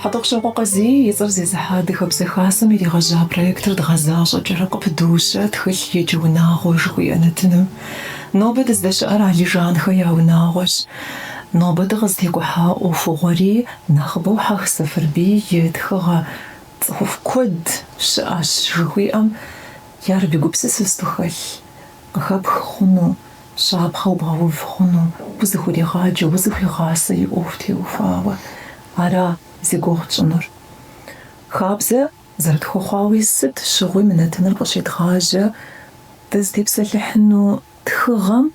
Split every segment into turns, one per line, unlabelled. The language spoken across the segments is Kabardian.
Хьэтӏохъущокъуэ Къазий и цӏэр зезыхьэ Адыгэбзэ Хасэм иригъэжьа проектыр дгъэзащӏэкӏэрэ къыпыдощэ тхылъ еджэ унагъуэ жыхуиӏэ нэтыным. Нобэ дыздэщыӏэр Алижанхэ я унагъуэщ. Нобэ дыкъызытекӏухьа ӏуэхугъуэри нэхъыбэу Хьэх Сэфэрбий и тхыгъэ Цӏыхуфӏ куэд щыӏэщ жыхуиӏэм абы и гупсысэ, сыт хэлъ Къыхэпх хъуну, щапхъэу бгъэув хъуну, узыхуригъаджэ, узыхуигъасэ и ӏуэху теухуауэ. Ара зи гугъу тщӏынур. Хабзэ зэрытхуэхъуауи, сыт щыгъуи мы нэтыныр къыщедгъажьэ дызытепсэлъыхьыну тхыгъэм,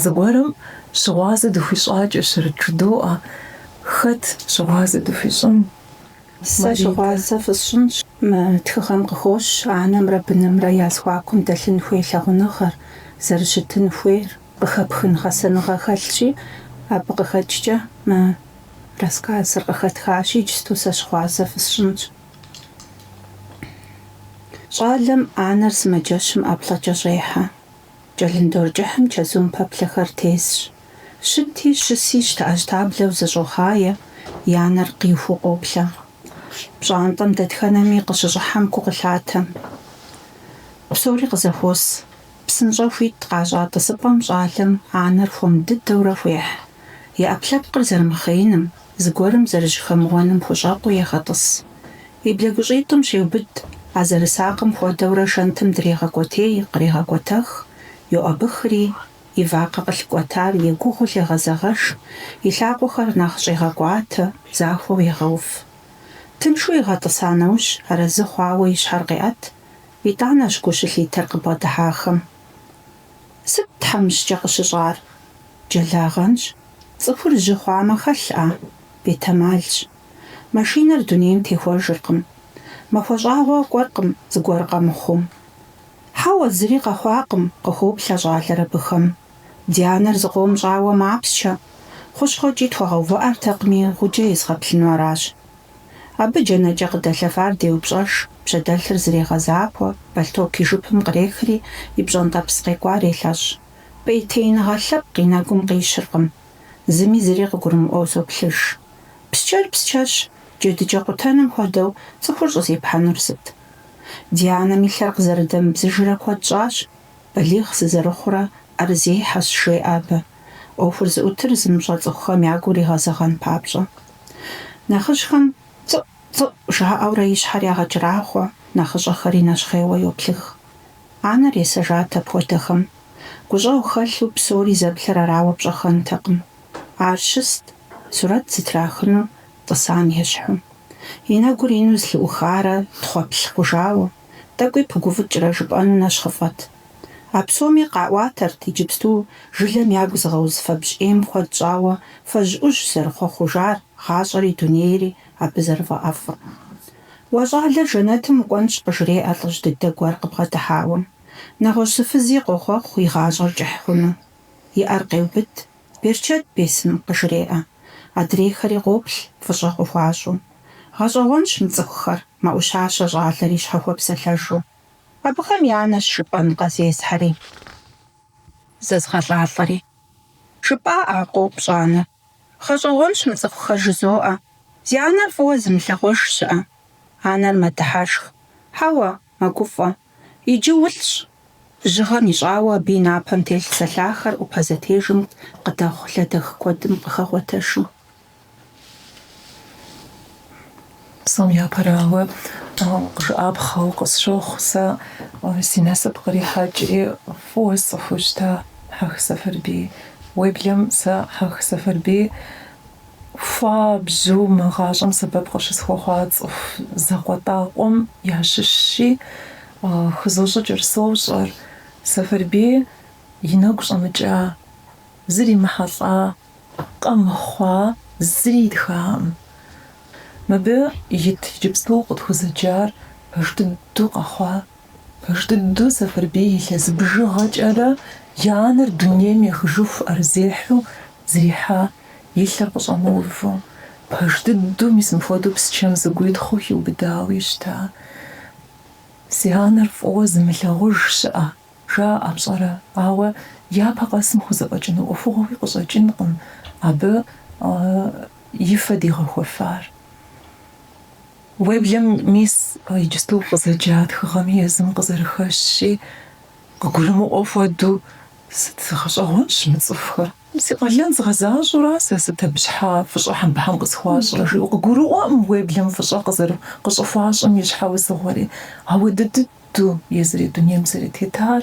зыгуэрым щыгъуазэ дыхуищӏакӏэщэрэт жыдоӏэ. Хэт щыгъуазэ дыхуищӏын? Сэ щыгъуазэ фысщӏынщ мы тхыгъэм къыхощ анэмрэ бынымрэ я зэхуакум дэлъын хуей лъагъуныгъэр, зэрыщытын хуейр, къыхэпхын гъэсэныгъэ хэлъщи, абы къыхэкӏкӏэ мы рассказыр къыхэтхащ, иджысту сэ щыгъуазэ фысщӏынщ. Щӏалэм анэр сымаджэщым ӏэплӏэкӏэ щӏехьэ. Кӏэлындор кӏыхьым чэзум пэплъэхэр тесщ. Щыти, щыси, щтэӏэщтаблэу зэщӏохъае, я нэр къихуу къоплъэ. Пщӏантӏэм дэтхэнэми къыщыщӏыхьэм гу къылъатэ. Псори къызэхуос. Псынщӏэу хуит къащӏа тӏысыпӏэм щӏалэм анэр хуэм дыдэурэ хуехь. И ӏэпкълъэпкъыр зэрымыхъеиным, зыгуэрым зэрыжьэхэмыуэным хущӏэкъуу егъэтӏыс. И блэгущӏитӏым щеубыд, а зэрысакъым хуэдэурэ шэнтым дрегъэкӏуэтей, кърегъэкӏуэтэх, йоӏэбыхри, и вакъэ къылъыкӏуэтар егугъуу лъегъэзэгъэж, и лъакъуэхэр нэхъ щӏегъэкӏуатэ, захуэу егъэув. Тыншу игъэтӏыса нэужь, арэзы хъуауэ и щхьэр къеӏэт, итӏанэщ гу щылъитэр къыбгъэдыхьахэм. Сыт тхьэмыщкӏэ къыщыщӏар? Джэлагъэнщ. Цӏыхур жьы хъуамэ хэлъ а? Бетэмалщ. Машинэр дунейм техуэжыркъым. Махуэ щӏагъуэ кӏуэркъым зыгуэр къэмыхъуу. Хьэуэ, зыри къэхъуакъым, къыхоплъэ щӏалэр абыхэм. Ди анэр зыкъом щӏауэ мапсчэ. Хущхъуэкӏи тхуэгъэувыӏэртэкъыми, гъуджэ езгъэплъыну аращ. Абы джэнэкӏэ къыдэлъэфар деупщӏэж, пщэдэлъыр зрегъэзахуэ, бэлътоку и жыпым кърехри, и пщӏэнтӏэпс къекӏуар елъэщӏ. Пӏейтеиныгъэ лъэпкъ и нэгум къищыркъым. Зыми зыри къыгурымыӏуэу зоплъыж. Псчэр псчэщ, джэдыкӏэ къутэным хуэдэу цӏыхур щӏызепхьэнур сыт? Ди анэм и лъэр къызэрыдэмыбзыжрэ куэд щӏащ. Балигъ сызэрыхъурэ ӏэрызехьэщ, жеӏэ абы, ӏуэхур зыӏутыр зымыщӏэ цӏыхухэм я гур игъэзэгъэн папщӏэ. Нэхъыжьхэм цӏыӏу, цӏыӏу жаӏэурэ и щхьэр ягъэкӏрахъуэ, нэхъыщӏэхэри нэщхъейуэ йоплъых. Анэр есэжат апхуэдэхэм. Гущӏэгъу хэлъу псори зэплъэр арауэ пщӏэххэнтэкъым. Ар щыст, сурэт зытрахыну тӏысам ещхьу. И нэгур ину зэлъыӏухарэ тхъуэплъ хъужауэ. тӏэкӏуи пыгуфӏыкӏрэ жыпӏэну нэщхъыфӏэт. А псоми къаӏуатэрт иджыпсту жылэм ягу зыгъэуз фэбжь ӏейм куэд щӏауэ фэжь ӏужь зэрыхуэхъужар, гъащӏэри дунейри абы зэрыфӏэӏэфӏыр. Уэ щӏалэр жэнэтым укӏуэнщ, къыжреӏэ лӏыжь дыдэ гуэр къыбгъэдыхьауэ. Нэгъуэщӏ зы фызи къохъуэхъу и гъащӏэр кӏыхь хъуну. И ӏэр къеубыд. Берычэт бесын къыжреӏэ. Адрейхэри къоплъ, фӏыщӏэ къыхуащӏу. Гъэщӏэгъуэнщ мы цӏыхухэр, мэӏущащэ щӏалэр и щхьэ хуэпсэлъэжу. Абыхэм я анэщ жыпӏэнкъэ зесхьэри зэзгъэлӏалӏэри. Жыпӏа а? къоупщӏ анэр. Гъэщӏэгъуэнщ мы цӏыхухэр жызоӏэ. Зи анэр фӏыуэ зымылъагъуж щыӏэ. Анэр мэдыхьэшх. Хьэуэ, Мэгуфӏэ. Иджы улӏщ. Жьыгъэм ищӏауэ абы и напэм телъ зэлъахэр ӏупэ зэтежым къыдэхъу лэдэх куэдым къыхэгъуэтэшым. Псом япэрауэ, жыӏапхъэу къысщохъу сэ си насып кърихьэкӏри фӏыуэ сцӏыхуу щыта Хьэх Сэфэрбий. Уеблэм сэ Хьэх Сэфэрбий. Хуабжьу мы гъащӏэм сэбэп къыщысхуэхъуа цӏыху закъуэтӏакъуэм ящыщщи, хызощӏыкӏыр сощӏэр, Сэфэрбий и нэгу щӏэмыкӏа, зримыхьэлӏа, къэмыхъуа зыри итхакъым. Мыбы ит иджыпсту къытхузэджар пэж дыдэу къэхъуа. Пэж дыдэу Сэфэрбий илъэс бжыгъэкӏэрэ и анэр дунейм ехыжыху ӏэрызехьу зэрихьа, и лъэр къыщӏэмыуву. Пэж дыдэу мис мыпхуэдэу псчэм зэгуитхъыу хиубыдауи щыта? Зи анэр фӏыуэ зымылъагъуж щыӏэ, жаӏэ пщӏэрэ? Ауэ япэ къэсым хузэфӏэкӏыну ӏуэхугъуэуи къыщӏэкӏынкъым абы и фэ дигъэхуэфар. Уеблэм мис иджыпсту укъызэджа тхыгъэми езым къызэрыхэщщи, къыгурымыӏуэ хуэдэу, сыт, гъэщӏэгъуэнщ мы цӏыхухэр? Си къалэн згъэзащӏэура сэ сыт абы щхьа фӏыщӏэ хьэмбыхьэм къысхуащӏрэ? жиӏэу къыгурыӏуэкъым уеблэм фӏыщӏэ къыщӏыхуащӏым и щхьэусыгъуэри. Ауэ дыдыду езыри дунейм зэрытетар,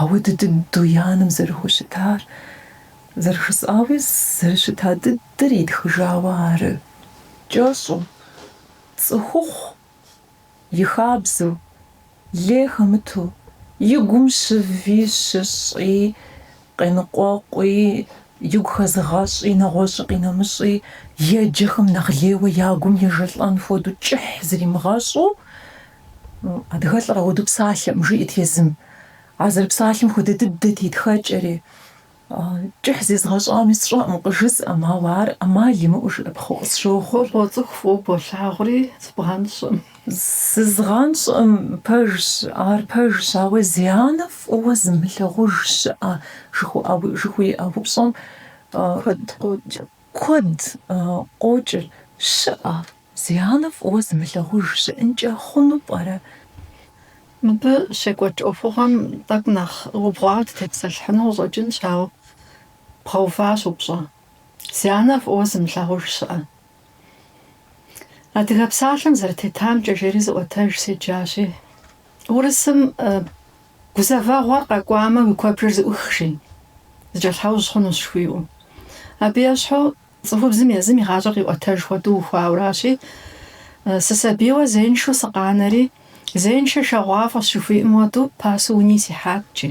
ауэ дыдыду и анэм зэрыхущытар, зэрыжысӏауи, зэрыщыта дыд. Тыр итхыжауэ ары. Кӏэщӏу, цӏыхухъу, и хабзэу, лей хэмыту, и гум щыви щыщӏи, къеныкъуэкъуи, игу хэзыгъэщӏи, нэгъуэщӏи къинэмыщӏи, еджэхэм нэхъ лейуэ я гум ежэлӏэн хуэдэу кӏыхь зримыгъэщӏу, Адыгэлӏыр апхуэдэу псалъэкъым, жиӏэт езым. А зэрыпсалъэм хуэдэ дыдэт и тхэкӏэри. Кӏыхь зезгъэщӏами сщӏэкъым, къыжысӏэм, ауэ ар ӏэмал имыӏэу жыӏэпхъэу къысщохъу. Фӏыуэ цӏыху фӏыуэ болъагъури, зыбгъэнщӏкъым. Зызгъэнщӏкъым, пэжщ, ар пэжщ, ауэ зи анэ фӏыуэ зымылъагъуж щыӏэ жыхуиӏэ упщӏэм куэд къокӏыр щыӏэ. Зи анэ фӏыуэ зымылъагъуж щыӏэнкӏэ хъуну пӏэрэ? Мыбы щекӏуэкӏ ӏуэхугъуэм тӏэкӏу нэхъ убгъуауэ дытепсэлъыхьыну къыщӏэкӏынщ, ауэ бгъэуващ упщӏэ. Зи анэ фӏыуэ зымылъагъуж щыӏэ? Адыгэ псалъэм зэрытетамкӏэ жери зы ӏуэтэж седжащи, урысым Гузэвэгъуэр къэкӏуамэ, уи куэбжэр зэӏух, жи, зэкӏэлъхьэужь хъунущ жыхуиӏэу. Абы ещхьу Цӏыхубзым езым и гъащӏэр къиӏуэтэж хуэдэу ухуауэращи, сысабийуэ зеиншэу сыкъанэри, зеиншэ шэгъуафӏэщ жыхуиӏэм хуэдэу пасэу уни сихьат икӏи.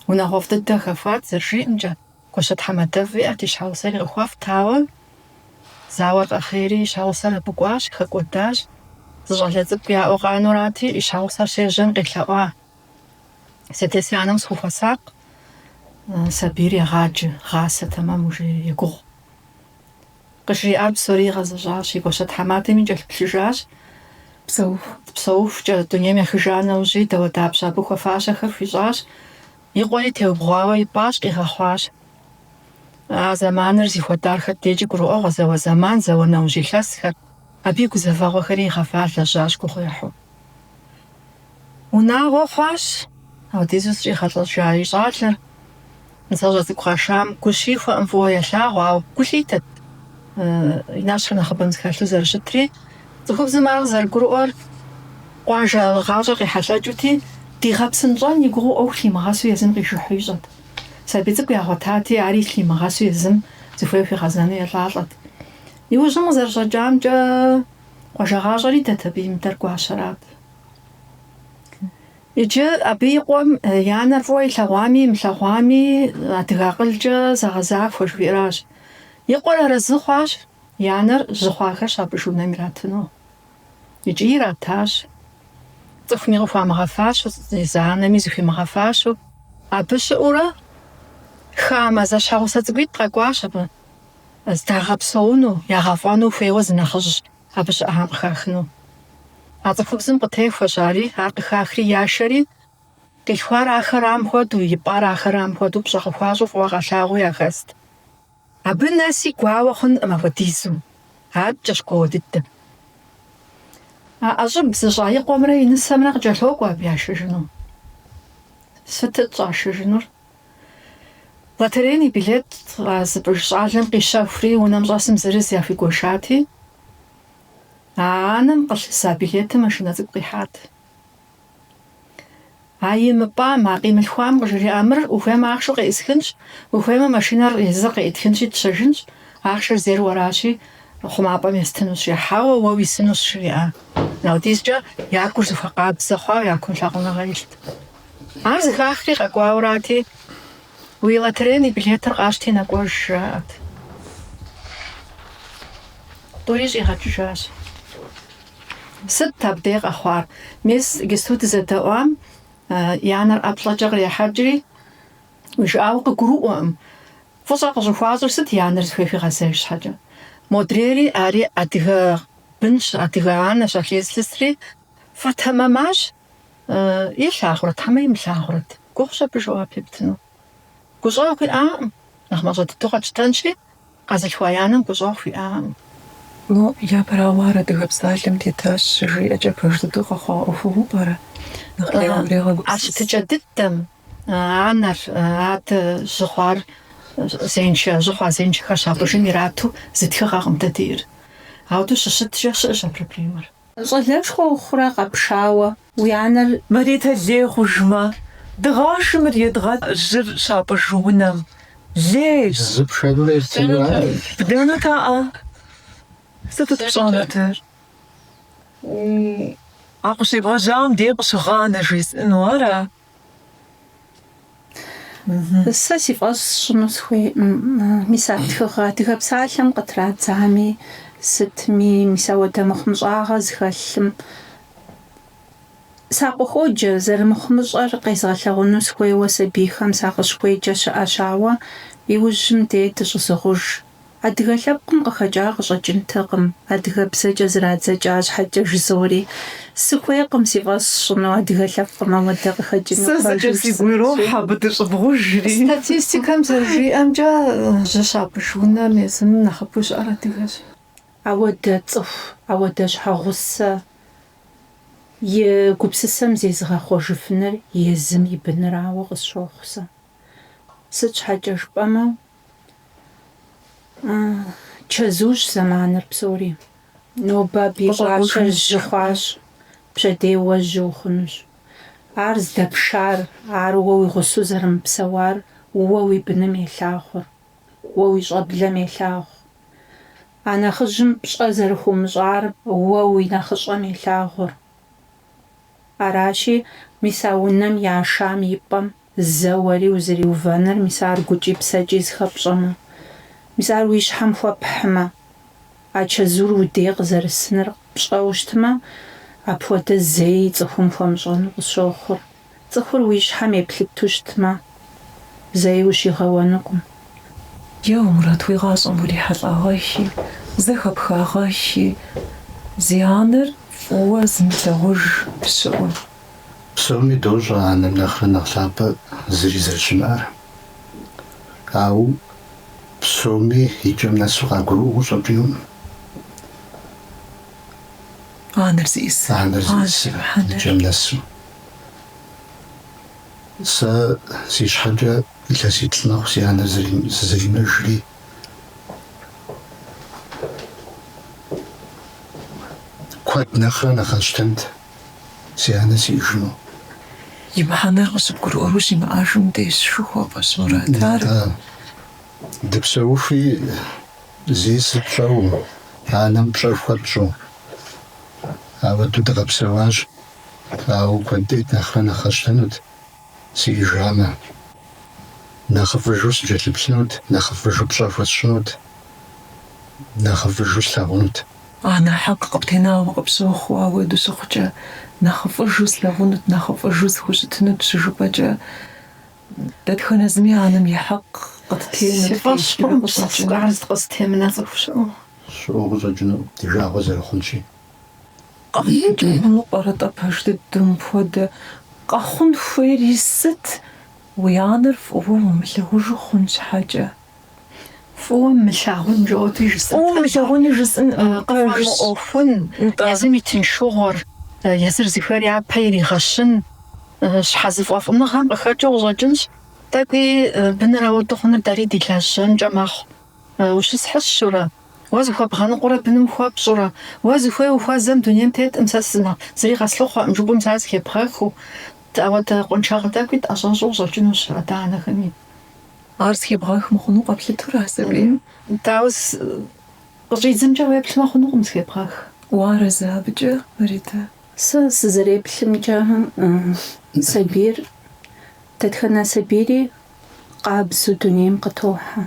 Унагъуэфӏ дыдэ хэхуат зэрыжиӏэмкӏэ, гуащэ-тхьэмадэфӏ иӏэт и щхьэгъусэри къыхуэфӏт, ауэ зауэр къэхъейри и щхьэгъусэр абы кӏуащ, хэкӏуэдащ. Зы щӏалэ цӏыкӏу яӏэу къанурати, и щхьэгъусэр щежьэм къелъэӏуа. Си адэ-си анэм схухуэсакъ, сабийр егъаджэ, гъасэ тэмэму, жи, егугъу. Къыжриӏар псори игъэзэщӏащ, и гуащэ тхьэмадэм икӏэлъыплъыжащ. Псэуху-псэухукӏэ дунейм ехыжа нэужьи, дауэдапщэ абы хуэфащэхэр хуищӏащ, и къуэри теубгъуауэ ипӏащ, къигъэхъуащ. А зэманыр зыхуэдар хэт дежкӏи гурыӏуэгъуэ, зауэ зэман, зауэ нэужь илъэсхэр, абы и гузэвэгъуэхэри игъэва лэжьащ гугъуехьу. Унагъуэ хъуащ, апхуэдизу зыщӏигъэлӏэжа и щӏалэр нысащӏэ цӏыкӏу къашам гу щихуэкъым фӏыуэ елъагъу, ауэ гу лъитэт и нэщхъыр нэхъыбэм зэхэлъу зэрыщытри. Цӏыхубзым ар къызэрыгурыӏуэр къуажэ гъащӏэр къехьэлъэкӏыути, дигъэпсынщӏэн и гугъэу ӏуэху лъимыгъэсу езым къижыхьу ищӏэт. Сабий цӏыкӏу ягъуэтати, ари лъимыгъэсу езым зыхуей хуигъэзэну елӏалӏэт. Иужьым къызэрыщӏэкӏамкӏэ, къуажэ гъащӏэр идэт, абы имыдэр гуащэрат. Иджы абы и къуэм и анэр фӏыуэ илъэгъуами имылъэгъуами адыгэ акъылкӏэ зэгъэзахуэ жыхуиӏэращ. И къуэр арэзы хъуащ, и анэр жьы хъуахэр щапӏыж унэм иратыну. Икӏи иратащ. Цӏыхуми къыхуамыгъэфащэу, езы анэми зыхуимыгъэфащэу. Абы щыӏэурэ хамэ зэщхьэгъусэ цӏыкӏуитӏ къэкӏуащ абы здагъэпсэуну, ягъэфӏэну хуейуэ зы нэхъыжь. Абы щыӏэхэм къыхахыну. А цӏыхубзым къытехуэщ ари, ар къыхахри яшэри, къилъхуар ахэрам хуэдэу, ипӏар ахэрам хуэдэу пщӏэ къыхуащӏу фӏыуэ къалъагъуу яхэст. Абы нэси гуауэ хъункъым апхуэдизу, адэкӏэщ гуауэ дыдэм. А ӏэщӏыб зыщӏа и къуэмрэ и нысэмрэ къыкӏэлъокӏуэ абы яшэжыну. Сытыт щӏашэжынур? Лотерейнэ билет а зыпӏыж щӏалэм къищэхури, унэм щӏэсым зырыз яхуигуэшати, а анэм къылъыса билетым машинэ цӏыкӏу къихьат. А имыпӏам, а къимылъхуам къыжриӏа, Мыр ухуеймэ ахъшэу къеӏысхынщ, ухуеймэ машинэр езыр къеӏытхынщи, тщэжынщ, ахъшэр зейр уэращи, хъумапӏэм естынущ, хьэуэ, уэ уисынущ, жриӏа. Апхуэдизкӏэ я гур зыхуэкъабзэ хъуауэ я кум лъагъуныгъэ илът. Ар зэхахри къэкӏуауэрати, Уи лотерейнэ билетыр къащти нэкӏуэж, жаӏэрт. Тӏури щӏигъэкӏыжащ. Сытт абдей къэхъуар? Мис иджыпсту дызэдэӏуам и анэр ӏэплӏэкӏэ кърехьэкӏри, уи жыӏауэ къыгурыӏуэкъым, фӏыщӏэ къыщӏыхуащӏыр сыт и анэр зыхуей хуигъэзэж щхьэкӏэ. Модрейри ари адыгэ бынщ, адыгэ анэщ а лей зылъысри, фӏэтэмэмащ. Илъагъурэт, хьэмэ имылъагъурэт? Гугъущ абы жэуап ептыну. Гущӏэгъу хуиӏакъым. Нэхъ мащӏэ дыдэу къэтщтэнщи, къэзылъхуа и анэм гущӏэгъу хуиӏакъым. Ну, япэрауэ, ар Адыгэ псалъэм тетащ щыжиӏэкӏэ пэж дыдэу къэхъуа ӏуэхугъуэу пӏэрэ? Нэхъ ирегъэгупсыс. А щытыкӏэ дыдэм анэр, адэ жьы хъуар зеиншэ, жьы хъуа зеиншэхэр щапӏыжым ирату зы тхыгъэкъым дэ диӏэр. Ауэдэу щыщыткӏэ щыӏэщ а проблемэр. Щӏалэшхуэ ухъурэ къэпшауэ уи анэр? Маритэ лей хъужмэ, дыгъэши мыр едгъэ. Жьыр щапӏыж унэм лей. Зы пшэру ефтыну ар. Бдэнутэӏэ, сытыт пщӏэнутыр? А къыщебгъэжьам дей къыщыгъанэ жесӏыну ара? Сэ си фӏэщ сщӏыну сыхуейкъым. Мис а тхыгъэ Адыгэ псалъэм къытрадзами, сытми, мис ауэдэ мыхъумыщӏагъэ зыхэлъым сакъыхуоджэ, зэрымыхъумыщӏэр къезгъэлъэгъуэну сыхуейуэ сабийхэм сакъыщыхуеджэ щыӏэщ, ауэ иужьым дей дыщӏызыгъуж. Адыгэ лъэпкъым къыхэкӏа къыщӏэкӏынтэкъым, адыгэбзэкӏэ зэрадзэкӏа щхьэкӏэ жызори. Сыхуейкъым си фӏэщ сщӏыну адыгэ лъэпкъым ауэдэ къыхэкӏыну Сэ зэкӏэ пэжыр сигу ирохь сынэсу. абы дыщӏывгъужри. Статистикэм зэрыжиӏэмкӏэ, жьы щапӏыж унэм езым нэхъыфӏу щыӏэр адыгэщ. Ауэдэ цӏыху, ауэдэ щхьэгъусэ и гупсысэм зезыгъэхъуэжыфыныр езым и бынырауэ къысщохъу сэ. Сыт щхьэкӏэ жыпӏэмэ, Чэзущ зэманыр псори. Нобэ абы и гуащэр жьы хъуащ, пщэдей уэ жьы ухъунущ. Ар здэпшар, ар уэ уи гъусэу зэрымыпсэуар уэ уи быным елъагъур, уэ уи щӏэблэм елъагъу. А нэхъыжьым пщӏэ зэрыхуумыщӏар уэ уи нэхъыщӏэм елъагъур. Аращи, мис а унэм яшам и пӏэм Зэ уэри узэриувэныр, мис ар гукӏи псэкӏи зыхэпщӏэмэ, мис ар уи щхьэм хуэпхьмэ, а чэзур удей къызэрысыныр пщӏэу щытмэ, апхуэдэ зэи цӏыхум хуэмыщӏэну къысщохъур. Цӏыхур уи щхьэм еплъыту щытмэ, зэи ущигъэуэнукъым. Е уэ, Мурат, уи гъащӏэм урихьэлӏагъэхи, зэхэпхагъэхи, зи анэр фӏыуэ зымылъагъуж щыӏэу. Псоми дощӏэ анэм нэхърэ нэхъ лъапӏэ зыри зэрыщымыӏэр. Ауэ псоми и кӏэм нэсу къагурыӏуэу къыщӏэкӏынукъым. Анэр зиӏысыр. Анэр зиӏысыр и кӏэм нэсу. Сэ си щхьэкӏэ илъэситӏ мэхъу си анэр зэрызимыӏэжри. Куэд нэхърэ нэхъ къэсщтэнт. си анэ сиӏыжыну. И мыхьэнэр къыщыбгурыӏуэр щимыӏэжым дежщ жыхуэсӏэщ Мурат ар. Нтӏэ, дыпсэухуи зиӏыс тщӏэуэ, анэм пщӏэ хуэтщӏу. Ауэду дыкъэпсэуащ, ауэ куэд дыдэ нэхърэ нэхъ къэсщтэнут. Сиӏыжамэ, нэхъыфӏыжу сыкӏэлъыплъынут, нэхъыфӏыжу пщӏэ хуэсщӏынут, нэхъыфӏыжу слъагъунут. Анэ хьэкъ къыптенауэ къыпщохъу ауэду щыхъукӏэ, нэхъыфӏыжу слъагъунут, нэхъыфӏыжу сыхущытынут щыжыпӏэкӏэ, дэтхэнэ зыми анэм и хьэкъ къыттенут. Си фӏэщ хъурэ мы псалъэ къару зыкъызытемына цӏыху щыӏэу? Щыӏэу къыщӏэкӏынукъым, ди жагъуэ зэрыхъунщи. Къэхъункӏэ хъуну пӏэрэ-тӏэ пэж дыдэу мыпхуэдэ? Къэхъун хуейри сыт? Уи анэр фӏыуэ умылъагъужу хъун щхьэкӏэ. Фӏыуэ мылъагъун жаӏэти жысӏэт. Фӏыуэ мылъагъуни жысӏын къыфӏэмыӏуэхун, езым и тыншыгъуэр, езыр зыхуейр япэ иригъэщын, щхьэзыфӏэфӏыныгъэм къыхэкӏыу къыщӏэкӏынщ. Тӏэкӏуи быныр ауэду хъуныр дэри ди лажьэнкӏэ мэхъу. Ущысхьыщурэ? Уэ зыхуэбгъэныкъурэ быным хуэпщӏурэ? Уэ зыхуей ухуэзэм дунейм тетӏым сэ сымэ, зыри къэслъыхъуэкъым жыпӏэм сэ зыхебгъэхыу. Ауэдэ къуаншагъэ тӏэкӏуи тӏэщӏэщӏу къыщӏэкӏынущ адэ-анэхэми. Ар зыхебгъэх мыхъуну къэплъытэрэ, сабийм? Дауэ, къыщӏидзэмкӏэ уеплъмэ хъунукъым зыхебгъэх. Уарэзы абыкӏэ, Ритэ? Сэ сызэреплъымкӏэ, сабийр, дэтхэнэ сабийри къабзэу дунейм къытохьэ.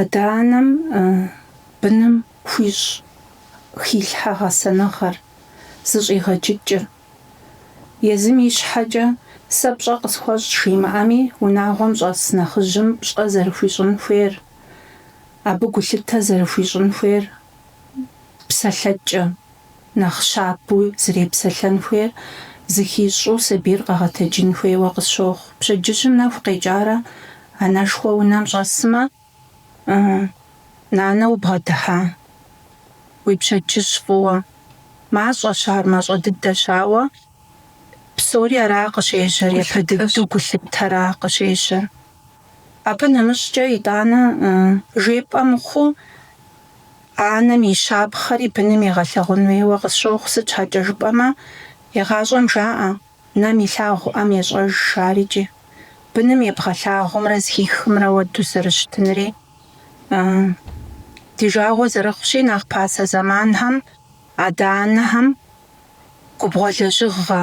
Адэ-анэм быным хуищӏ хилъхьэ гъэсэныгъэр зыщӏигъэджыкӏыр. Езым и щхьэкӏэ сэ пщӏэ къысхуэщӏ жимыӏэми, унагъуэм щӏэс нэхъыжьым пщӏэ зэрыхуищӏын хуейр, абы гулъытэ зэрыхуищӏын хуейр псэлъэкӏэ. Нэхъ щабэу зэрепсэлъэн хуейр зыхищӏу сабийр къэгъэтэджын хуейуэ къысщохъу. Пщэдджыжьым нэху къекӏарэ анэшхуэ унэм щӏэсмэ, Нанэ, убгъэдыхьа? Уи пщэдджыжь фӏыуэ? Мащӏэщ ар, мащӏэ дыдэщ, ауэ псори ара къыщежьэр, япэ дыдэу гулъытэр ара къыщежьэр? Абы нэмыщӏкӏэ итӏанэ жепӏэ мыхъуу, анэм и щапхъэри быным егъэлъэгъун хуейуэ къысщохъу, сыт щхьэкӏэ жыпӏэмэ, егъащӏэм жаӏэ, Нэм илъагъу ӏэм ещӏэж, жаӏэр икӏи. Быным ебгъэлъагъумрэ зыхихымрэ ауэду зэрыщытынри, ди жагъуэ зэрыхъущи, нэхъ пасэ зэманхэм, Адэ-анэхэм губгъуэ лэжьыгъэ,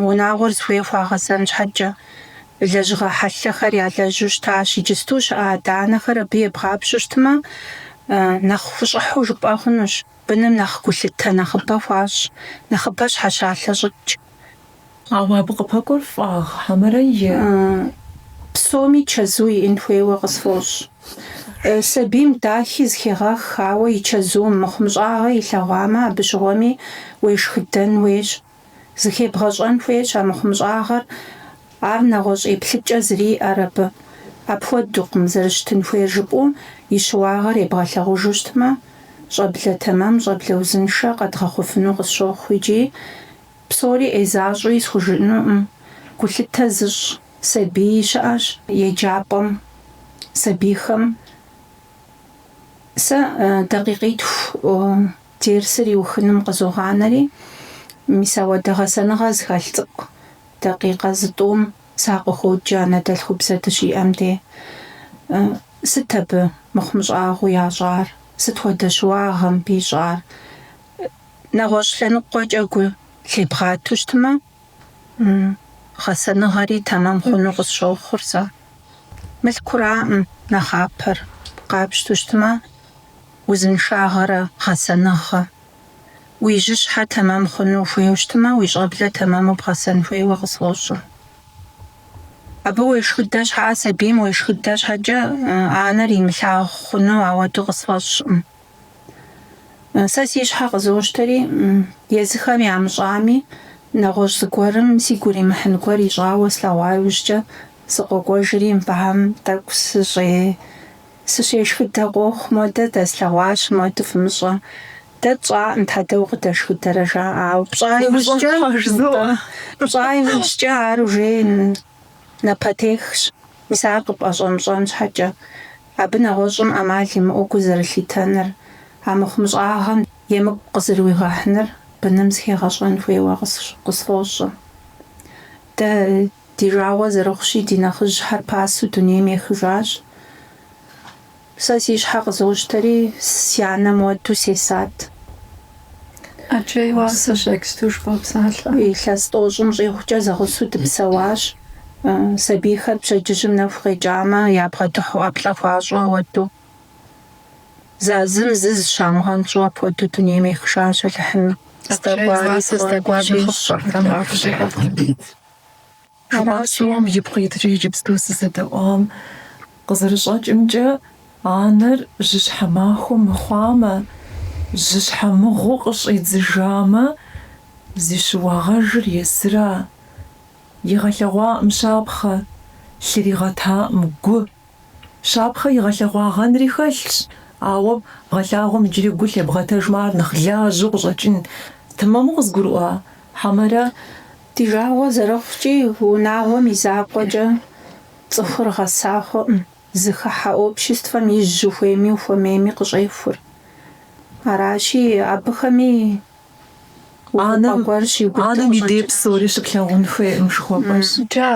унагъуэр зыхуей хуагъэзэн щхьэкӏэ, лэжьыгъэ хьэлъэхэр ялэжьу щытащ. Иджысту щыӏэ адэ-анэхэр абы ебгъапщу щытмэ, нэхъ хущӏыхьу жыпӏэ хъунущ, быным нэхъ гулъытэ нэхъыбэ хуащӏ, нэхъыбэ щхьэщалъэщӏыкӏ. Ауэ абы къыпэкӏуэр фӏагъ хьэмэрэ е? Псоми чэзу иӏын хуейуэ къысфӏощӏ. Сабийм дахи зыхегъэх, ауэ и чэзум, мыхъумыщӏагъэ илъэгъуамэ, абы щыгъуэми уешхыдэн хуейщ. Зыхебгъэщӏэн хуейщ а мыхъумыщӏагъэр, ар нэгъуэщӏ еплъыкӏэ зэриӏэр абы. Апхуэдукъым, зэрыщытын хуейр жыпӏэу и щыуагъэр ебгъэлъагъужу щытмэ, щӏэблэ тэмэм, щӏэблэ узыншэ къэдгъэхъуфыну къысщохъу икӏи, Псори ӏей защӏэуи схужыӏэнукъым, гулъытэ зыщӏ сабий щыӏэщ еджапӏэм, сабийхэм сэ дакъикъитху дерсыр иухыным къызогъанэри, мис ауэдэ гъэсэныгъэ зыхэлъ цӏыкӏу дакъикъэ зытӏум сакъыхуоджэ анэдэлъхубзэ дыщиӏэм де. Сыт абы мыхъумыщӏагъэу ящӏар, сыт хуэдэ щыуагъэ мыбы ищӏар? нэгъуэщӏ лъэныкъуэкӏэ гу лъебгъату щытмэ, гъэсэныгъэри тэмэм хъуну къысщохъур сэ. Мылъкураӏым нэхъапэр, къапщту щытмэ, узыншагъэрэ гъэсэныгъэ. Уи жьыщхьэ тэмэм хъуну ухуейуэ щытмэ, уи щӏэблэ тэмэму бгъэсэн хуейуэ къысфӏощӏэ. Абы уешхыдэ щхьэӏэ, сабийм уешхыдэ щхьэкӏэ анэр имылъагъу хъуну ауэду къысфӏэщӏкъым. Сэ си щхьэ къызощтэри, езыхэм ямыщӏами, нэгъуэщӏ зыгуэрым сигу иримыхьын гуэр ищӏауэ слъэгъуа иужькӏэ, сыкъокӏуэжри, мыбыхэм тӏэкӏу сыщешхыдэ къохъу, моуэдэ дэслъэгъуащ, моуэдэ фымыщӏэ. Дэ тщӏакъым, щхьэ дэ укъыдэшхыдэрэ, жаӏэ, ауэ пщӏа иужькӏэ ар ужеин. Напэтехщ, мис ар къыпӏэщӏэмыщӏэн щхьэкӏэ, абы нэгъуэщӏым ӏэмал имыӏэу гу зэрылъитэныр, а мыхъумыщӏагъэм емыкӏу къызэрыуигъэхьыныр быным зыхегъэщӏэн хуейуэ къысфӏощӏэ. Дэ ди жагъуэ зэрыхъущи, ди нэхъыжьхэр пасэу дунейм ехыжащ. Сэ си щхьэ къызощтэри, си анэм ауэду сесат. Илъэс тӏощӏым щӏигъукӏэ зэгъусэу дыпсэуащ. Сабийхэр пщэдджыжьым нэху къекӏамэ, ябгъэдыхьу ӏэплӏэ хуащӏу ауэду. Зазым зы зыщамыгъэнщӏу апхуэдэу дунейм ехшащ Алыхьым. Ӏэджэи уасэ здэкӏуар нэхъыфӏщ, абы нэхъ жыгыфӏ. Жаӏэм ипкъ иткӏэ иджыпсту сызэдэӏуам къызэрыщӏэкӏымкӏэ, анэр жьыщхьэ махуэ мыхъуамэ, жьыщхьэ мыгъуэу къыщӏидзыжамэ, зи щыуагъэжыр езыра? Игъэлъэгъуакъым щапхъэ, лъыригъэтакъым гу. Щапхъэ игъэлъэгъуагъэнри хэлъщ, ауэ бгъэлъагъуэм иджыри гу лъебгъэтэжмэ ар нэхъ лажьэу къыщӏэкӏын. Тэмэму къызгурыӏуа, хьэмэрэ? Ди жагъуэ зэрыхъукӏи, унагъуэм и закъуэкӏэ цӏыхур гъэса хъукъым, зыхыхьэ обществэм ижь ухуейми ухуэмейми къыщӏехур. Аращи, абыхэми увыпӏэ гуэр щигъуэту къыщӏэкӏынущ. Анэм и дей псори щыплъагъун хуейкъым жыхуэпӏэщ. Джа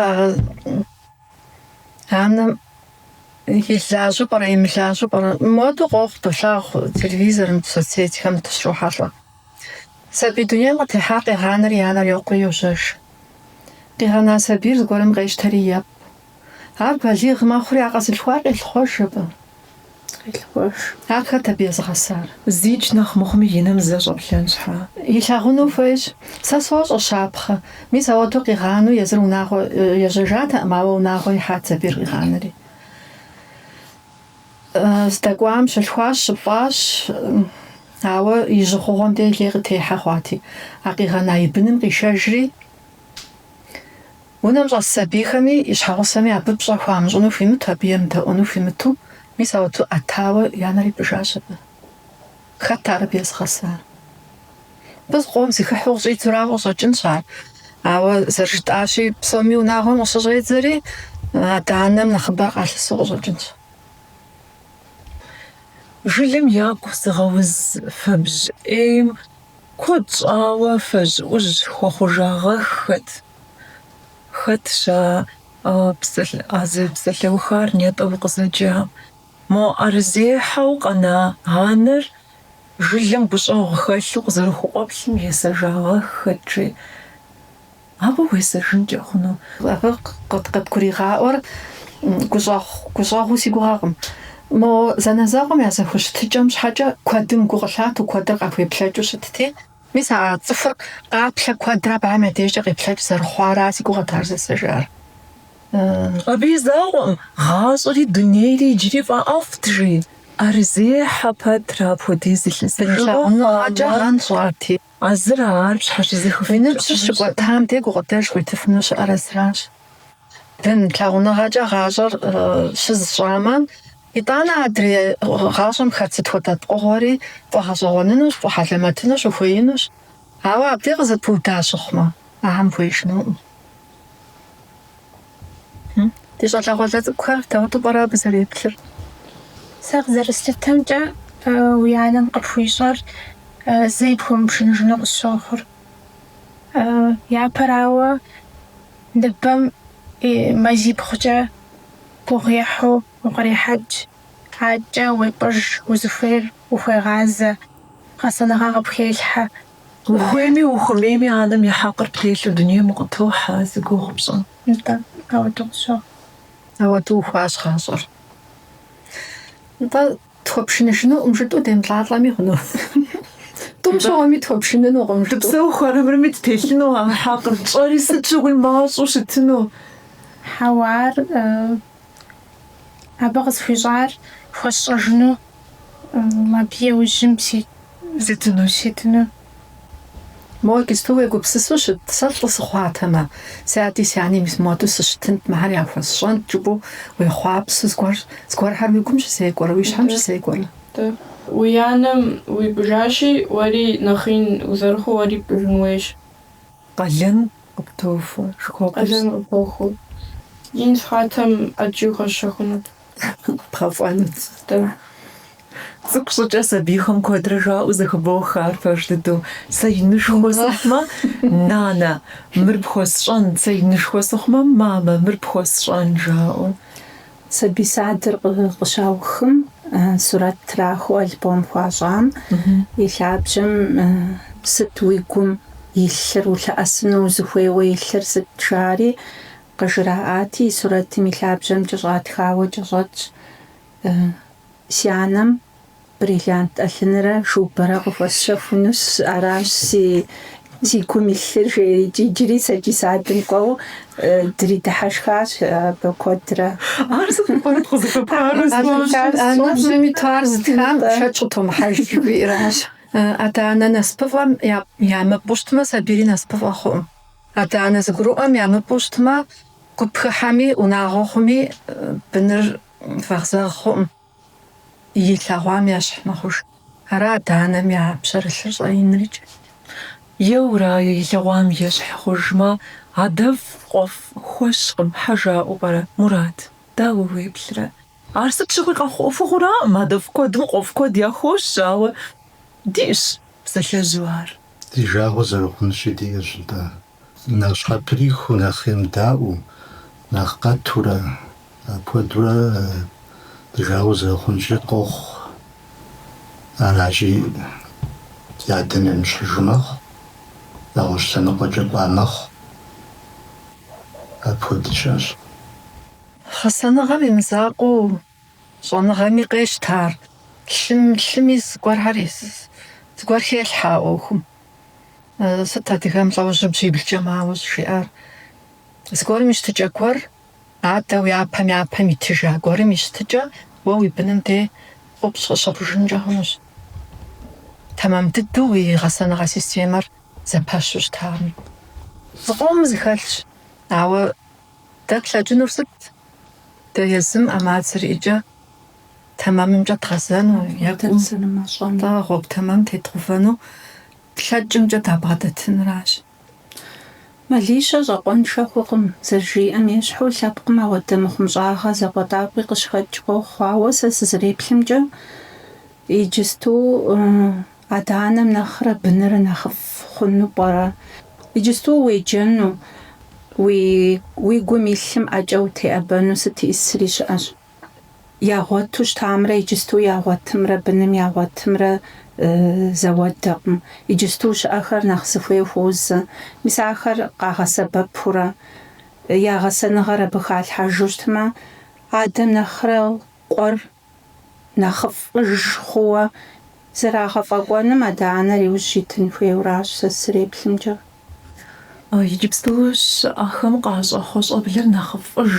Анэм илажьэ пӏэрэ, имылажьэ пӏэрэ? Моду къохъу, долъагъу телевизорым, соцсетьхэм дыщрохьэлӏэ. Сабий дунейм къытехьар къигъанэри анэр йокъури йожьэж. Къигъэна сабийр зыгуэрым къещтэри епӏ. Ар балигъ мэхъури а къэзылъхуар къелъыхъуэж абы. къелъыхъуэж. Ар хэт абы езыгъэсар? Зикӏ нэхъ мыхъуми и нэм зэ щӏэплъэн щхьа илъагъуну хуейщ. Сэ сощӏэ, щапхъэ. Мис ауэду къигъану езыр унагъуэ ежьэжатэкъым, ауэ унагъуэ ихьат сабийр къигъанэри. Здэкӏуам щылъхуащ, щыпӏащ, ауэ и жьыхъугъуэм де лей къытехьэ хъуати, а къигъэна и быным къишэжри, Унэм щӏэс сабийхэми и щхьэгъусэми абы пщӏэ хуамыщӏыну хуимыту, абы емыдэӏуэну хуимыту, мис ауэту ӏэтауэ анэр ипӏыжащ абы. Хэт ар абы езыгъэсар? Абы къуэм зыхыхьу къыщӏидзурауэ къыщӏэкӏынщ ар. Ауэ зэрыжытӏащи, псоми унагъуэм къыщыщӏедзэри, адэ-анэм нэхъыбэр къалъысу къыщӏэкӏынщ. Жылэм ягу зыгъэуз фэбжь ӏейм куэд щӏауэ фэжьыӏужь хуэхъужагъэххэт. Хэтщ а зы псалъэухар нетӏэ укъызэджа? Мо ӏэрызехьэу къэна анэр жылэм гущӏэгъу хэлъу къызэрыхукъуэплъым есэжагъэххэт, жи, абы уесэжынкӏэ хъуну? Абы къыт- къыдгуригъаӏуэр гущӏэгъуу си гугъэкъым. Мо зэанэзэкъуэм я зэхущытыкӏэм щхьэкӏэ куэдым гу къылъату, куэдыр къахуеплъэкӏыу щытти. Мис а цӏыхур къаплъэ куэдрэ абыхэм я дежкӏэ къеплъэкӏ зэрыхъуара си гугъэт ар зэсэжар. Абы и закъуэм гъащӏэри дунейри иджыри фӏэӏэфӏт, жи. ӏэрызехьэ пэтрэ апхуэдиз илъэс лъагъуныгъэкӏэ гъэнщӏати. А зыра ар пщхьэщызыхыфыну. Уи ныбжьыр щыкӏуэтам де гукъыдэж къуитыфыну щыӏэр а зыращ. Бын лъагъуныгъэкӏэ гъащӏэр щыз щӏамэ, итӏанэ адрей гъащӏэм хэт сыт хуэдэ пкъыгъуэри фӏэгъэщӏэгъуэнынущ, фӏэхьэлэмэтыну щыхуеинущ. Ауэ абдей къызэпыуда щыхъумэ, ахэм хуеижынукъым. Ди щӏалэгъуалэ цӏыкӏухэр дауэтэу пӏэрэ абы зэреплъыр? Сэ къызэрыслъытэмкӏэ, уи анэм къыпхуищӏэр зэи пхуэмыпшыныжыну къысщохъур. Япэрауэ, Ныбэм и мазибгъукӏэ гугъуехьу укърихьэкӏ, адэкӏэ уепӏыж, узыхуейр ухуегъазэ, гъэсэныгъэ къыпхелъхьэ. Ухуейми ухуэмейми анэм и хьэкъыр птелъу дунейм укъытохьэ, зи гугъу пщӏыр. Нтӏэ, ауэду къысщохъу. Ауэду ухуащ гъащӏэр. Нтӏэ. Тхуэпшыныжынукъым жытӏэу демылӏалӏэми хъуну. Тӏум щыгъуэми тхуэпшынынукъым жытӏэу. Дыпсэуху армырми ттелъыну а хьэкъыр, тщӏэри сыт щыгъуи мащӏэу щытыну. Хьэуар абы къысхуищӏар хуэсщӏэжыну, абы еужьым ситыну. Моуэ джыпсту уегупсысу щыт, сэ лӏы сыхъуатэмэ, си ади си ани мис моду сыщытынт, мыхэр яхуэсщӏэнт жыпӏэу уехъуапсу, зыгуэр, зыгуэрхэр уи гум щызекӏуэрэ, уи щхьэм щызекӏуэрэ? Уи анэм уипӏыжащи, уэри нэхъ ин узэрыхъуу уэри пӏыжын хуейщ. Къалэн къыптохуэ, жыхуэхъур сыт? Къалэн къыпохуэу, ин сыхъуатэм ӏэджи къэсщэхунут. Пхъэфӏэну цӏыхутӏэ. Цӏыкӏу щӏыкӏэ сабийхэм куэдрэ жаӏэу зэхыбох ар пэж дыдэу. Сэ инышхуэ сыхъумэ, нанэ, мыр пхуэсщӏэн, сэ инышхуэ сыхъумэ, мамэ, мыр пхуэсщӏэн жаӏэу. Сабий садыр къыщаухым, сурэт трахыу альбом хуащӏам и лъабжьэм сыт уи гум илъыр, улъэӏэсыну узыхуейуэ илъыр сыт жари, Къыжраӏати, сурэтым и лъабжьэм кӏэщӏатхауэ кӏэщӏэтщ, Си анэм бриллиант ӏэлъынрэ шубэрэ къыхуэсщэхунущ, аращ си гум илъыр, жери. Иджыри сэ ди садым кӏуэу дридыхьэшхащ абы куэдрэ. Ар сыт мыхъуну, къызыхуэпарэ сфӏэщӏыр? Анэр зыми-тӏэ ар зытхам шэч къытомыхьэж, жыхуиӏэращ. Адэ-анэ насыпыфӏэм ямыпӏу щытмэ, сабийри насыпыфӏэ хъуӏым. Адэ-анэ зыгурыӏуэм ямыпӏэу щытмэ, гуп хыхьэми, унагъуэ хъуми, быныр вэгъзэгъ хъуӏым, и лъэгъуам ещхь мэхъуж. Ара адэ-анэм я пщэрылъыр щӏэинрикӏ. Еуэрэ и лъэгъуам ещхь хъужмэ, адэфӏ къуэфӏ хуэщкъым, щхьэ жаӏэу пӏэрэ, Мурат, дауэ уеплърэ? Ар сыт щыгъуи къэхъу ӏуэхугъуэраӏым, адэфӏ куэдым къуэфӏ куэд яхуощ, ауэ диӏэщ псалъэжьу ар. Ди жагъуэ зэрыхъунщи диӏэщ, нтӏэ, нэхъ щхьэприхыу, нэхъ емыдаӏуэу, нэхъ къэтурэ, апхуэдурэ ди жагъуэ зэрыхъунщи къохъу, аращи, и адэм емыщхьыжу мэхъу, нэгъуэщӏ лъэныкъуэкӏэ кӏуа мэхъу, апхуэдэ щыӏэщ. Гъэсэныгъэм и мызакъуэу щӏэныгъэми къещтэ ар, лъым, лъыми зыгуэрхэри, зыгуэр хелъхьэ а ӏуэхум. Сыт адыгэм лӏэужьыр бжьиблкӏэ мауэ щӏыжиӏар? Зыгуэрым и щытыкӏэ гуэр, адэ уи япэм япэм итыжа гуэрым и щытыкӏэ уэ уи быным де къупщӏ къыщыхъужынкӏэ хъунущ. Тэмэм дыдэу уи гъэсэныгъэ системэр зэпэщу щытами. Зыкъом зыхэлъщ, ауэ Дэ тлъэкӏынур сыт? Дэ езым ӏэмал зэриӏэкӏэ тэмэмымкӏэ дгъэзэну е кӏуэцӏынымкӏэ гъуэгу тэмэм тедгъувэну тлъэкӏымкӏэ дабгъэдэтыныращ. Мэлищэ щӏакъуэншэ хъукъым, зэрыжиӏэм ещхьу, лъэпкъым ауэдэ мыхъумыщӏагъэ закъуэтӏакъуи къыщыхэкӏ къохъу, ауэ сэ сызэреплъымкӏэ, иджысту Адэ-анэм нэхърэ быныр нэхъыфӏ хъуну пӏэрэ? Иджысту уеджэну, уи гум илъым ӏэкӏэ утеӏэбэну сыт исри щыӏэщ. Ягъуэту щытамрэ иджысту ягъуэтымрэ быным ягъуэтымрэ зэуэдэкъым. Иджысту щыӏэхэр нэхъ зыхуей хуозэ. Мис ахэр къагъэсэбэпурэ, я гъэсэныгъэр абы халъхьэжу щытмэ, адэм нэхърэ къуэр нэхъыфӏыж хъууэ зэрагъэфӏэкӏуэным адэ-анэр иужь итын хуейуэращ сэ сызэреплъымкӏэ. Иджыпсту щыӏэхэм къащӏэхъуэ щӏэблэр нэхъыфӏыж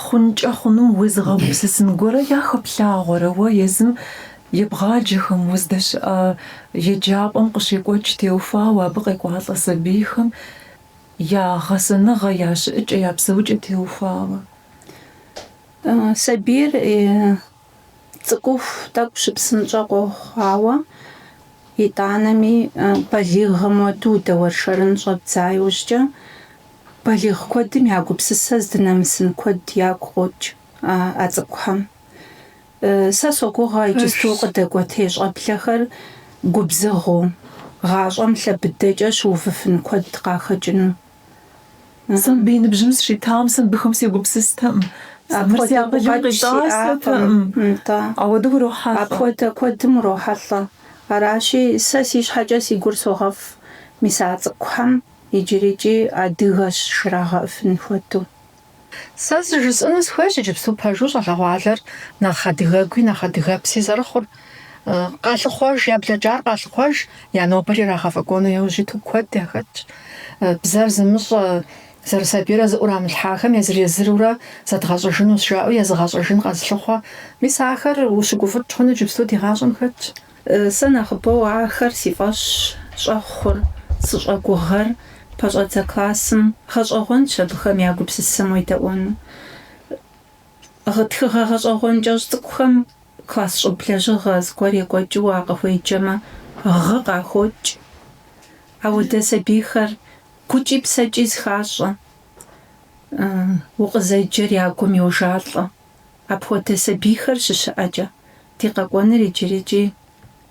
хъункӏэ хъунум уезыгъэгупсысын гуэрэ яхэплъагъуэрэ уэ езым ебгъаджэхэм, уздэщыӏэ еджапӏэм къыщекӏуэкӏ теухуауэ абы къекӏуалӏэ сабийхэм я гъэсэныгъэ, я щыӏыкӏэ, я псэукӏэ теухуауэ? Сабийр цӏыкӏуху тӏэкӏу щыпсынщӏэ къохъу, ауэ итӏанэми балигъым уэдэу удэуэршэрын щӏэбдза иужькӏэ, балигъ куэдым я гупсысэ здынэмысын куэд ягу къокӏ а цӏыкӏухэм. Сэ согугъэ иджысту къыдэкӏуэтей щӏэблэхэр губзыгъэу, гъащӏэм лъэ быдэкӏэ щыувыфын куэд къахэкӏыну. Сэ мыбы и ныбжьым сыщитам сэ мыбыхэм сегупсыстэкъым. Мыр си акъылым къитӏасэтэкъым. Нтӏэ. Ауэдэу урохьэлӏэ. Апхуэдэ куэдым урохьэлӏэ. Аращи, сэ си щхьэкӏэ си гур согъэфӏ, мис а цӏыкӏухэм иджырикӏи адыгэщ жрагъэӏыфын хуэдэу. Сэ зы жысӏэну сыхуейщ иджыпсту пэжу щӏалэгъуалэр нэхъ адыгэгуи нэхъ адыгэпси зэрыхъур. Къалъыхъуэж, я блэкӏар къалъыхъуэж, я нобэр ирагъэфӏэкӏуэну иужь иту куэд яхэтщ. Бзэр зымыщӏэ, зэрысабийрэ зыӏурамылъхьахэм езыр-езырурэ зэдгъэщӏэжынущ жаӏэу езыгъэщӏэжын къэзылъыхъуэ. Мис ахэр ущыгуфӏыкӏ хъуну иджыпсту ди гъащӏэм хэтщ. Сэ нэхъыбэу ахэр си фӏэщ щӏэхъур, сыщӏэгугъэр, пэщӏэдзэ классым, гъэщӏэгъуэнщ абыхэм я гупсысэм уедэӏуэну. Гъы тхыгъэ гъэщӏэгъуэн кӏэщӏ цӏыкӏухэм класс щӏыб лэжьыгъэ зыгуэр екӏуэкӏыу уакъыхуеджэмэ гъы къахокӏ. Ауэдэ сабийхэр гукӏи псэкӏи зыхащӏэ, укъызэджэр я гум йожалӏэ. Апхуэдэ сабийхэр щыщыӏэкӏэ, ди къэкӏуэныр иджырыкӏи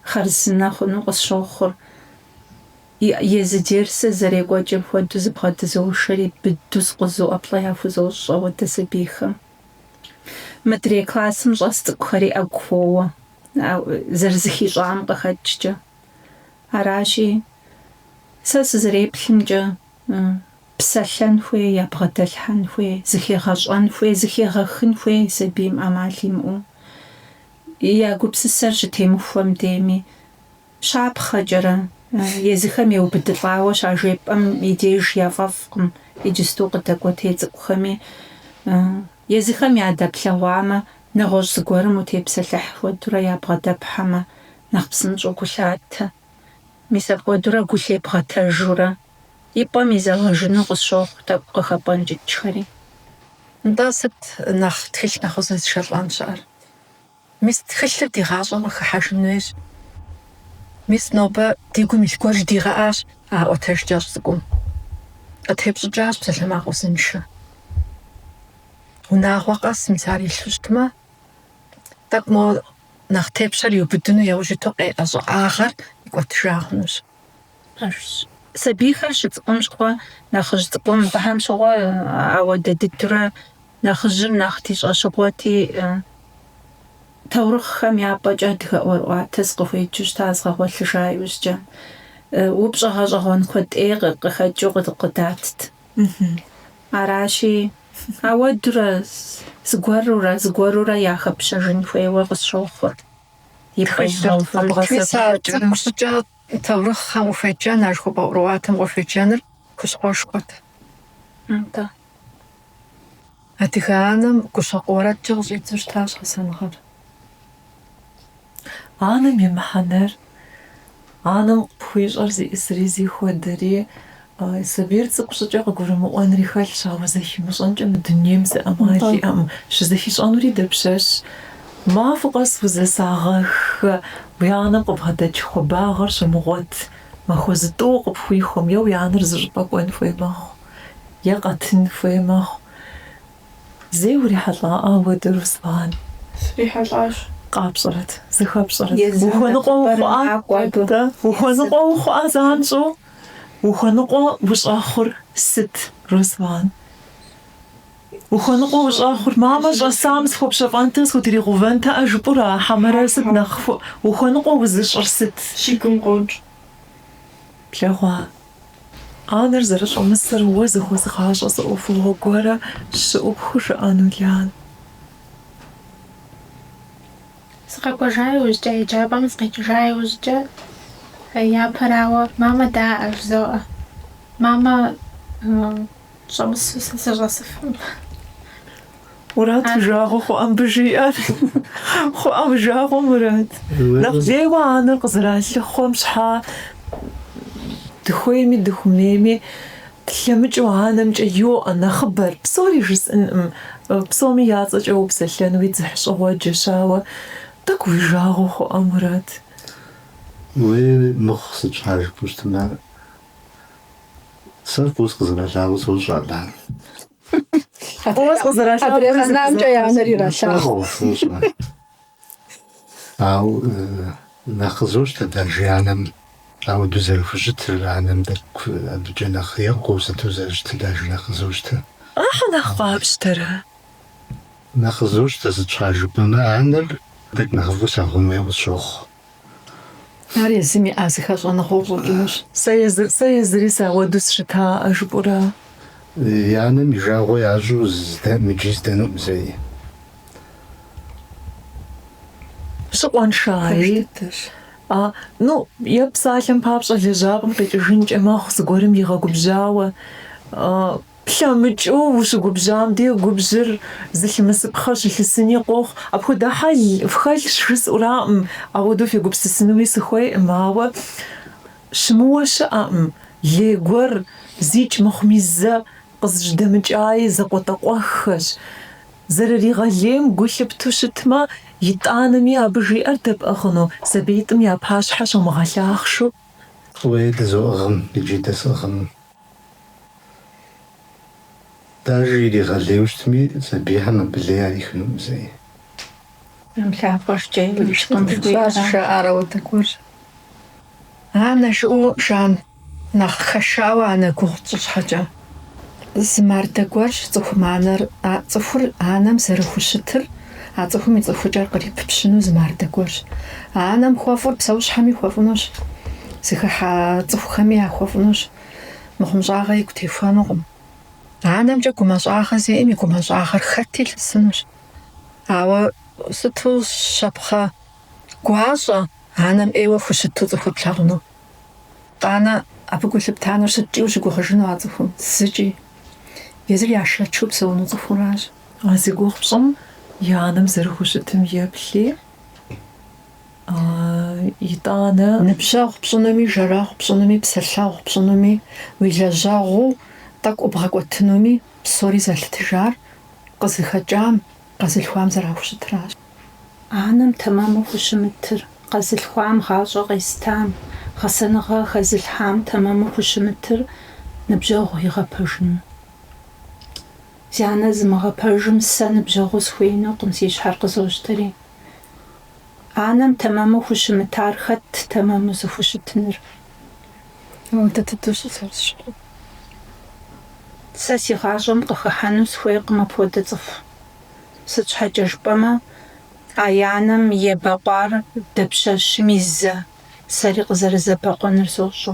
хъарзынэ хъуну къысщохъур. Езы дерсыр зэрекӏуэкӏым хуэдэу зыбгъэдызошэри, быдэу скъузу ӏэплӏэ яхузощӏ ауэдэ сабийхэм. Мыдрей классым щӏэс цӏыкӏухэри ӏэгу хуоуэ, зэрызыхищӏам къыхэкӏкӏэ. Аращи, сэ сызэреплъымкӏэ, Псэлъэн хуей, ябгъэдэлъхьэн хуей, зыхегъэщӏэн хуей, зыхегъэхын хуей сабийм ӏэмал имыӏэу. Я гупсысэр щытемыхуэм дейми, щапхъэкӏэрэ, езыхэм еубыдылӏауэ щажепӏэм и деж яфӏэфӏкъым иджысту къыдэкӏуэтей цӏыкӏухэми. Езыхэм ядэплъэгъуамэ, нэгъуэщӏ зыгуэрым утепсэлъыхь хуэдурэ ябгъэдэплъхьэмэ, нэхъ псынщӏэу гу лъатэ. Мис апхуэдэурэ гу лъебгъэтэжурэ, и пӏэм изэгъэжыну къысщохъу тӏэкӏу къыхэпӏэнкӏыкӏхэри. Нтӏэ, сыт нэхъ тхылъ нэхъ узэзышэлӏэн щыӏэр? Мис тхылъыр ди гъащӏэм къыхыхьэжын хуейщ. Мис нобэ ди гум илъ гуэр жыдигъэӏащ а ӏуэтэж кӏэщӏ цӏыкӏум. Къытепщӏыкӏащ псалъэмакъ узыншэ. Унагъуэ къэс мис ар илъу щытмэ, тӏэкӏу мо. нэхъ тепщэр иубыдыну яужь иту къеӏэ щӏыӏагъэр икӏуэтыжа хъунущ. Пэжщ. Сабийхэр щыцӏыкӏум щыгъуэ нэхъыжь цӏыкӏум. Абыхэм щыгъуэ ауэдэ дыдурэ нэхъыжьым нэхъ ди щӏэщыгъуэти, таурыхъхэм я пӏэкӏэ адыгэ ӏуэрыӏуатэ сыкъыхуеджэу щыта згъэгъуэлъыжа иужькӏэ, упщӏэ гъэщӏэгъуэн куэд ӏей къыхэкӏыу къыдатт. Аращи, ауэдурэ зыгуэрурэ зыгуэрурэ яхэпщэжын хуейуэ къысщохъур. И пэжхэм хуэбгъэсэхуну цӏыкӏу щӏыкӏэ таурыхъхэм къыхуеджэн, ар хуэпӏэ ӏуэрыӏуатэм къыхуеджэныр хущхъуэшхуэт. Атӏэ. Адыгэ анэм гущэкъу уэрэдкӏэ къыщӏидзэу щытащ гъэсэныгъэр. Анэм и мыхьэнэр, анэм къыпхуищӏэр зиӏысри зихуэдэри, сабийр цӏыкӏу щӏыкӏэ къыгурымыӏуэнри хэлъщ, ауэ зэхимыщӏэнкӏэ мы дунейм зы ӏэмал иӏэкъым. Щызэхищӏэнури дапщэщ? Махуэ къэс узэсагъэххэ, уи анэм къыбгъэдэкӏ хуабагъыр щыумыгъуэт махуэ зытӏууэ къыпхуихуэм е уи анэр зыщӏыпӏэ кӏуэн хуей мэхъу. е къэтын хуей мэхъу. Зэи урихьэлӏа ауэдэ, Руслан? Срихьэлӏащ. Къапщӏэрэт, зыхэпщӏэрэт? Ухуэныкъуэ ухъуа? Ухуэныкъуэ ухъуа занщӏэу? Ухуэныкъуэ ущӏэхъур сыт, Руслан? Ухуэныкъуэ ущӏэхъур мамэ щӏэсам схуэпщэфӏэнтэ, схутригъэувэнтэ, ӏэ, жыпӏура, хьэмэрэ сыт нэхъ ухуэныкъуэ узыщӏыр сыт? Си гум къокӏ. Плъэгъуа? Анэр зэрыщӏэмысыр уэ зыхозыгъащӏэ зы ӏуэхугъуэ гуэрэ щыӏэу пхужыӏэну, Лан. Сыкъэкӏуэжа иужькӏэ, еджапӏэм сыкъикӏыжа иужькӏэ, япэрауэ, мамэ даӏэ, жызоӏэ. Мамэ. Щӏэмысу сэ сыщӏэсыфым. Мурат, уи жагъуэ хъуа мыбы жиӏэр? Хъуа уи жагъуэ, Мурат? Нэхъ лейуэ анэр къызэралъыхъуэм щхьа дыхуейми дыхуэмейми тлъэмыкӏыу анэмкӏэ йоӏэ нэхъыбэр, псори жысӏынкъым, псоми я цӏэкӏэ упсэлъэн уи дзыхьщӏыгъуэджэщ, ауэ тӏэкӏу уи жагъуэ хъуа, Мурат? Уей, мыхъу, сыт щхьа жыпӏэу щытмэ, Сэ фӏыуэ сыкъызэралъагъур сэ сощӏэ ар. Фӏыуэ сыкъызэралъагъур. Адрей къэнамкӏэ я анэр иралъагъу. Ауэ нэхъ къызощтэ даже анэм ауэдэу зэрыхущытыр, анэм тӏэкӏу абыкӏэ нэхъ екӏуу сыту зэрыщытыр даже нэхъ къызощтэ. Ахьэ нэхъ къапщтэрэ? Нэхъ къызощтэ, сыт щхьа жыпӏэмэ, анэр тӏэкӏу нэхъыфӏу лъагъун хуей къысщохъу. Ар езым иӏа зы хэщӏыныгъэу щӏэкӏынущ. Сэ езыр, сэ езыри сауэду сщыта, а жыпӏура? И анэм и жагъуэ ящӏу здэ, мыджи здэнукъым зэи. Щыкъуаншэи? Пэж дыдэщ. А, ну, е псалъэм папщӏэ лэжьапӏэм къикӏыжынкӏэ мэхъу, зыгуэрым игъэгубжьауэ. Плъэмыкӏыу ущыгубжьам ди губжьыр зылъымысыпхъэ щылъысыни къохъу. Апхуэдэ хьэл фхэлъщ жысӏураӏым, ауэдэу фегупсысынуи сыхуейӏым, ауэ щымыуэ щыӏэкъым, лей гуэр зикӏ мыхъуми зэ къызыжьэдэмыкӏаи закъуэтӏакъуэххэщ. Зэрыригъэлейм гу лъыпту щытмэ, итӏанэми абы жиӏэр дэпӏыгъыну, сабиитӏым я пащхьэ щумыгъэлъахъшэу. Уей, дызоӏыгъ, мыджи дэсӏыгъыну. Даже иригъэлейуэ щытми, сабийхэм абы лей ярихынукъым зэи. Жэм лъакъуэ шкӏэ иукӏкъым жыхуиӏэращ. Жаӏэрэ уэ тыкуэр? Анэ, жыӏэу Жан нэхъ хэшауэ анэ гугъу тщӏы щхьэкӏэ. Зы мардэ гуэрщ цӏыхум анэр, а цӏыхур анэм зэрыхущытыр, А цӏыхум и цӏыхукӏэр къриппщыну зы мардэ гуэрщ. А анэм хуэфӏыр псэущхьэми хуэфӏынущ, зыхыхьэ цӏыхухэми яхуэфӏынущ. Мыхъумыщӏагъэ игу техуэнукъым. Анэмкӏэ гумащӏагъэ зиӏэм и гумащӏагъэр хэти лъысынущ. Ауэ сыту щапхъэ гуащӏэ анэм ӏейуэ хущыту цӏыхур плъагъуну. Къанэ, абы гу лъыпта нэужь сыткӏэ ущыгугъыжыну а цӏыхум? Зыкӏи. Езыр яшэчу псэуну цӏыхуращ. А зи гугъу пщӏым и анэм зэрыхущытым еплъи, итӏанэ. Ныбжьэгъу пщӏынуми, жэрэгъу пщӏынуми, псэлъэгъу пщӏынуми, уи лэжьэгъуу тӏэкӏу бгъэкӏуэтынуми псори зэлъытыжар къызыхэкӏам, къэзылъхуам зэрахущытыращ. Анэм тэмэму хущымытыр, къэзылъхуам гъащӏэ къезытам, гъэсэныгъэ хэзылъхьам тэмэму хущымытыр ныбжьэгъу игъэпэжыну. Зи анэ зымыгъэпэжым сэ ныбжьэгъуу схуеинукъым, си щхьэр къызощтэри. Анэм тэмэму хущымытар хэтт тэмэму зыхущытыныр? Мыутэ дыдэу щызэрысщыгъур. Сэ си гъащӏэм къыхыхьэну схуейкъым апхуэдэ цӏыху. Сыт щхьэкӏэ жыпӏэмэ, а и анэм ебэкъуар дапщэщми зэ, сэри къызэрызэбэкъуэныр сощӏэ.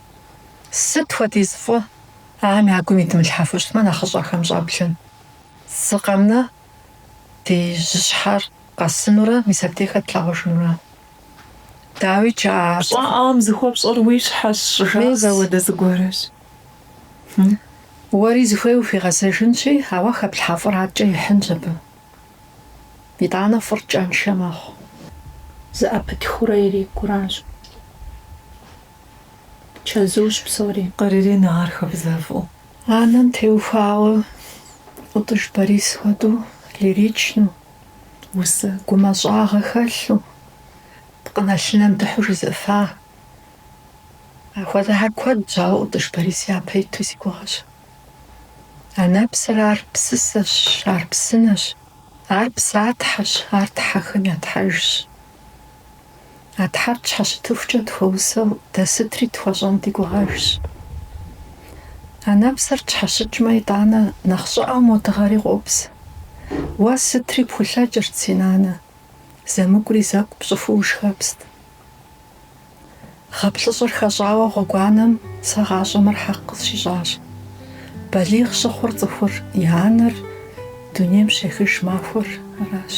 Сыт хуэдиз фӏы ахэм я гум идмылъхьэфу щытмэ, нэхъыщӏэхэм щӏэблэм. Зы къэмнэ ди жьыщхьэр къэсынурэ, мис абдей хэт тлъагъужынур? Дауи кӏа? Щӏэӏам зыхуэпщӏэр уи щхьэщ, щӏыжаӏэр мис апхуэдэ зыгуэрщ. Уэри зыхуей ухуигъэзэжынщи, ауэ хэплъхьэ фӏыр аткӏэ ихьынщ абы. Итӏанэ фӏыр кӏэншэ мэхъу. Зэӏэпытхыурэ ирикӏуэращ. чэзуущ псори. Къырыренэ ар хабзэфӏу. Анэм теухуауэ Ӏутӏыж Борис хуэдэу лиричну, усэ гумэщӏагъэ хэлъу, пкъынэлъынэм дыхьу жызыӏэфа. Апхуэдэхэр куэдщ, ауэ Ӏутӏыж Борис япэ иту си гугъэщ. Анэпсэр ар псысэщ, ар псынэщ, ар псатхьэщ, ар тхьэхэм я тхьэжщ. А Тхьэр тщхьэщытыхукӏэ тхуэусэу дэ сытри тхуэщӏэн ди гугъэжщ. Анэпсэр тщхьэщыкӏмэ, итӏанэ нэхъ щӏыӏэу мо дыгъэри къопс. Уэ сытри пхулъэкӏырт, си нанэ, зэмыкӏури зэкӏу пщӏыфу ушхэпст. Гъэ плӏыщӏыр хэщӏауэ гъуэгуанэм сэ гъащӏэм мыр хьэкъ къысщищӏащ. Балигъ щыхъур цӏыхур и анэр дунейм щехыж махуэр аращ.